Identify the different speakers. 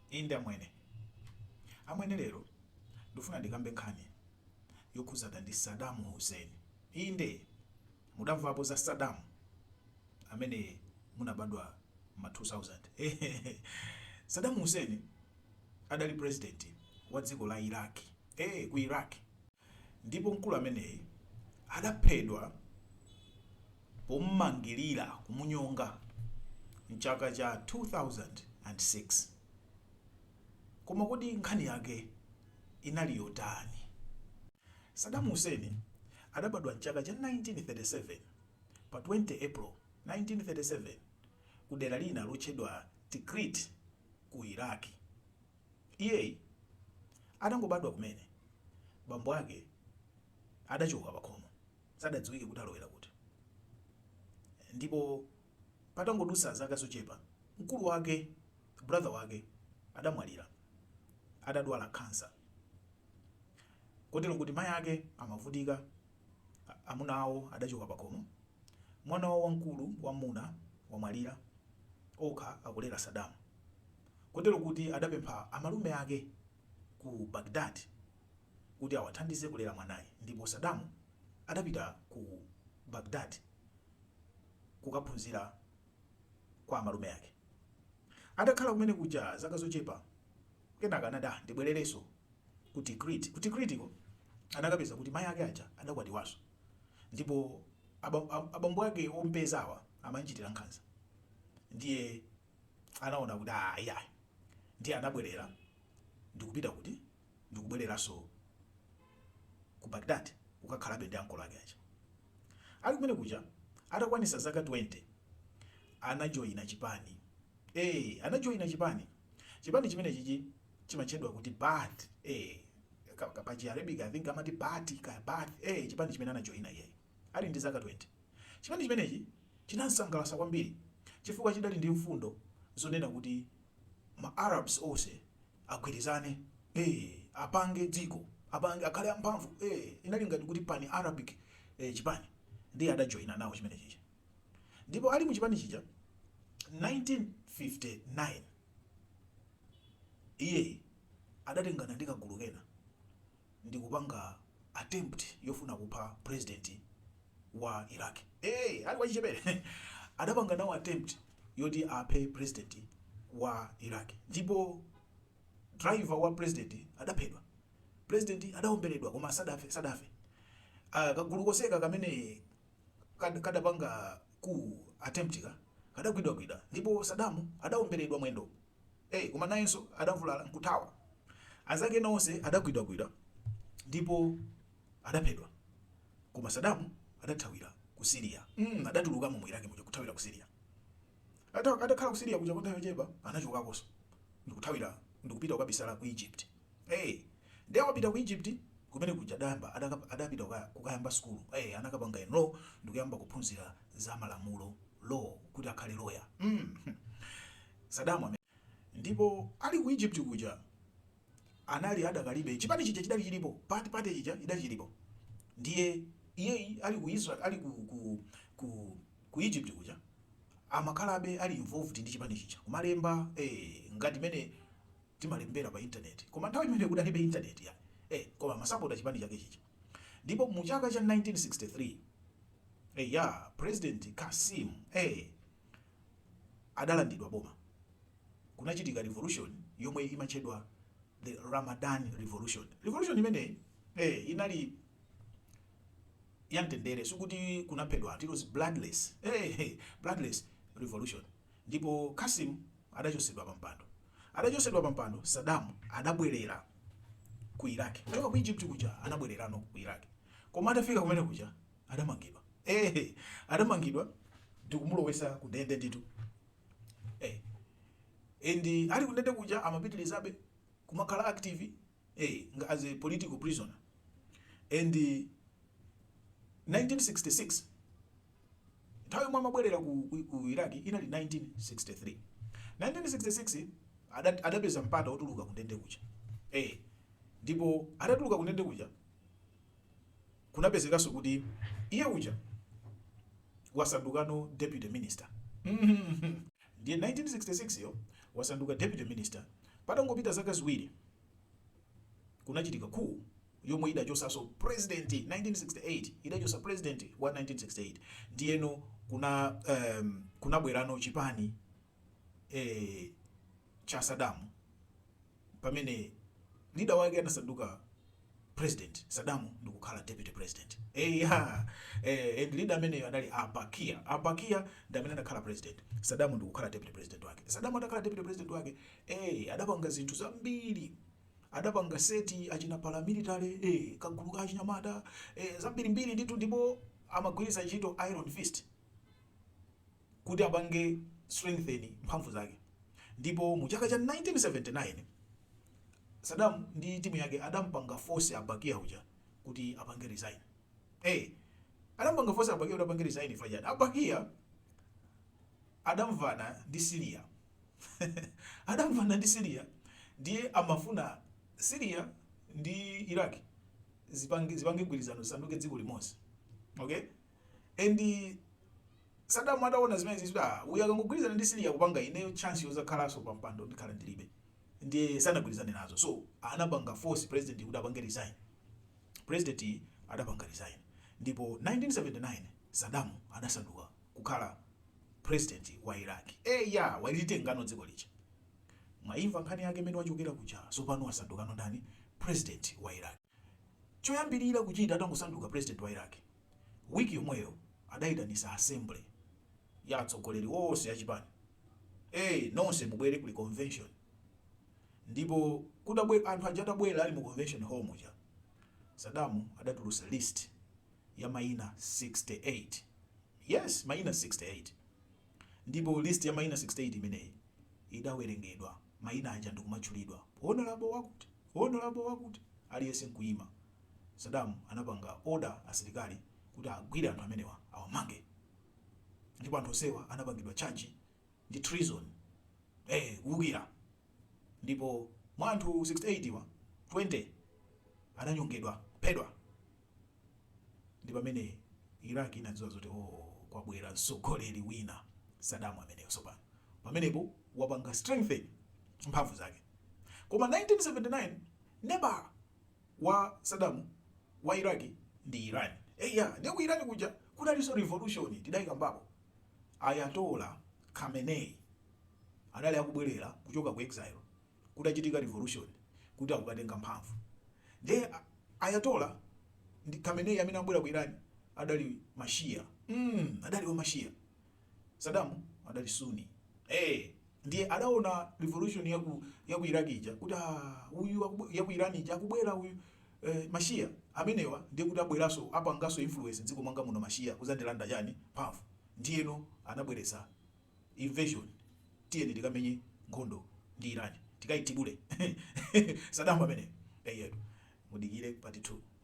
Speaker 1: Inde amwene. Amwene lero ndufuna ndikambe nkhani yokhuzana ndi Saddam Hussein. Inde mudamvapo za Saddam amene munabadwa mma 2000 hehehe Saddam Hussein adali president wa dziko la Iraq ee ku Iraq ndipo mkulu ameneyi adaphedwa pommangilira, kumunyonga, m'chaka cha 2006. Koma kodi nkhani yake inali yotani? Saddam Hussein adabadwa m'chaka cha 1937, pa 20 April 1937, ku dera lina lotchedwa Tikrit ku Iraq. Iye atangobadwa kumene, bambo ake adachoka pakhomo. sadadziwike kuti alowera kuti, ndipo patangodutsa zaka zochepa, mkulu wake, brother wake, adamwalira atadwala khansa kotero kuti mai ake amavutika, amuna awo adachoka pakhomo, mwana wawo wamkulu wammuna wamwalira, okha akulera Saddam kotero kuti adapempha amalume ake ku Baghdad kuti awathandize kulera mwanayi ndipo Saddam adapita ku Baghdad kukaphunzira kwa amalume ake. Atakhala kumene kuja zaka zochepa kenaka anati ah ndibwererenso ku Tikrit. Ku Tikritiko anakapeza kuti mayi ake aja adakwatiwanso ndipo abambo ake omupezawa amamchitira nkhanza ndiye anaona kuti aah iyayi ndiye anabwelera ndikupita kuti ndikubweleranso Ku Baghdad kukakhalabe ndi ankolo ake aja. Ali kumene kuja atakwanisa zaka 20 anajoina chipani eeh anajoina chipani chipani chimenechichi chimatchedwa kuti Baath eeh ka ka pa chi Arabic I think amati Baati kaya Baath eeh chipani chimene anajoina iyeyo. ali ndi zaka 20. Chipani chimenechi chinam'sangalatsa kwambiri chifukwa chidali ndi mfundo zonena kuti ma Arabs onse agwirizane, ee, apange dziko, apange, akhale amphamvu, ee, inali ngati kuti Pan-Arabic, ee, chipani, ndiye adajoina nawo chimene chija. Ndipo ali mu chipani chija, 1959, iyeyi adatengana ndi kagulu kena. ndikupanga attempt yofuna kupha president wa Iraq ee ali wachichepele adapanga nawo attempt yoti aphe president wa Iraq ndipo driver wa president adaphedwa president adaombeledwa koma sadafe sadafe ah kagulu konseka kamene kad kadapanga coup attempt ka kadagwidwagwidwa ndipo Saddam adaombeledwa mwendo. Ee, koma nayenso adavulala nkuthawa. Anzake ena onse adagwidwagwidwa ndipo adaphedwa. Koma Saddam adathawira ku Syria. mm adatulukamo mu Iraq muja kuthawira ku Syria. Ata atakhala ku Syria kuja kwa nthawi yochepa anachokakonso ndikuthawira ndikupita kukabisala ku Egypt. Ee, ndiye atapita ku Egypt kumene kuja adayamba adaka adapita kuka kukayamba sukulu. Ee, anakapanga enroll ndikuyamba kuphunzira za malamulo, law, kuti akhale lawyer. mm Saddam ameneyo. Ndipo ali ku Egypt kuja anali adakalibe, chipani chija chidali chilipo, Baath Party ija idali chilipo. Ndiye iye ali ku Israel, ali ku, ku, ku, ku Egypt kuja amakhalabe ali involved ndi chipani chija, kumalemba eh, ngati mene timalembera pa internet. Koma nthawi imeneyo kudalibe internet ya eh, koma amasapota chipani chake chija. Ndipo mu chaka cha 1963 eh, ya President Kasim eh, adalandidwa boma, kunachitika revolution yomwe imatchedwa the Ramadan revolution. Revolution imeneyi eh, inali yamtendere, sikuti kunaphedwa anthu, it was bloodless eh, hey, bloodless revolution. Ndipo Kasim adachosedwa pa mpando, adachosedwa pa mpando. Saddam adabwerera ku Iraq kuchoka ku Egypt kuja, anabwererano ku Iraq, koma atafika kumene kuja adamangidwa ee adamangidwa ndikumulowesa kundende ndithu ee and ali kundende kuja amapitilizabe kumakhala active ee nga as a political prisoner and 1966 nthawi yomwe amabwerera ku, ku, ku iraq inali 1963 1966 ada- adapeza mpata wotuluka kundende kuja ee ndipo adatuluka kundende kuja Kunapezekanso kuti iye uja wasandukano deputy minister ndiye 1966 yo wasanduka deputy minister patangopita zaka ziwiri kunachitika coup yomwe idachosanso president 1968 idachosa president wa 1968 ndiyeno kuna um, kunabwerano chipani e, cha Saddam pamene leader wake anasanduka president Saddam ndikukhala deputy president eh ya eh and leader ameneyo anali a Bakr a Bakr ndi amene anakhala president Saddam ndikukhala deputy president wake Saddam atakhala deputy president wake eh adapanga zinthu zambiri adapanga set achina paramilitary eh kagulu ka achinyamata eh zambiri mbiri ndithu ndipo amagwiritsa ntchito iron fist kuti apange strengthen mphamvu zake ndipo mu chaka cha 1979 Saddam ndi timu yake adampanga force a Bakr uja kuti apange resign eh adampanga force a Bakr kuti apange resign pajatu a Bakr adamvana ndi Syria adamvana ndi Syria ndiye amafuna Syria ndi Iraq zipange zipange gwirizano zisanduke dziko limodzi okay and Saddam ataona zimenezi kuti ah uyu akangogwirizana ndi Syria kupanga ineyo chance yozakhalanso pa mpando ndikhala ndilibe ndiye sanagwirizane nazo so anapanga force president kuti apange resign president adapanga resign ndipo 1979 Saddam adasanduka kukhala president wa Iraq eh ya walitengano dziko lija mwaimva nkhani yake mmene wachokera kuja sopano wasandukano ndani president wa Iraq choyambirira kuchita atangosanduka president wa Iraq, week yomweyo adayitanisa assembly ya atsogoleri onse a chipani ee nonse mubwere kuli convention ndipo kutabwe anthu aja atabwera ali mu convention hall muja Saddam adatulutsa list ya maina 68 yes maina 68 ndipo list ya maina 68 imeneyi idawerengedwa maina aja ndikumatchulidwa honorable wakuti Honorable wakuti aliyense nkuima. Saddam anapanga order asilikali kuti agwire anthu amenewa awamange. Ndipo anthu onsewa anapangidwa charge ndi treason ee kuwukira ndipo mwa anthu 68 wa 20 ananyongedwa kuphedwa. Ndi pamene Iraq inadziwa zoti, Oh, kwabwera mtsogoleri wina. Saddam ameneyo tsopano. Pamenepo wapanga strengthen mphamvu zake. Koma 1979, neighbor wa Saddam wa Iraq ndi Iran. Eya, ndiye ku Iran kuja kunalinso revolution, tidaikambapo. Ayatollah Khomeini anali akubwerera kuchoka ku exile. kudachitika revolution kuti akukatenga mphamvu nde Ayatollah Khomeini amene abwera ku Iran adali ma Shia mm, adali wa ma Shia Saddam adali Sunni eh ndiye adaona revolution ya ku ya ku Iraq ija kuti ah, uyu ya ku Iran ija akubwera uyu eh, mashia amenewa ndiye kuti abweraso apangaso influence dziko mwanga muno mashia kuzandilanda chani mphamvu ndiyeno anabweresa Invasion tiyeni tikamenye nkhondo ndi Iran tikaithibule Saddam ameneyo eyetu mudikire part 2.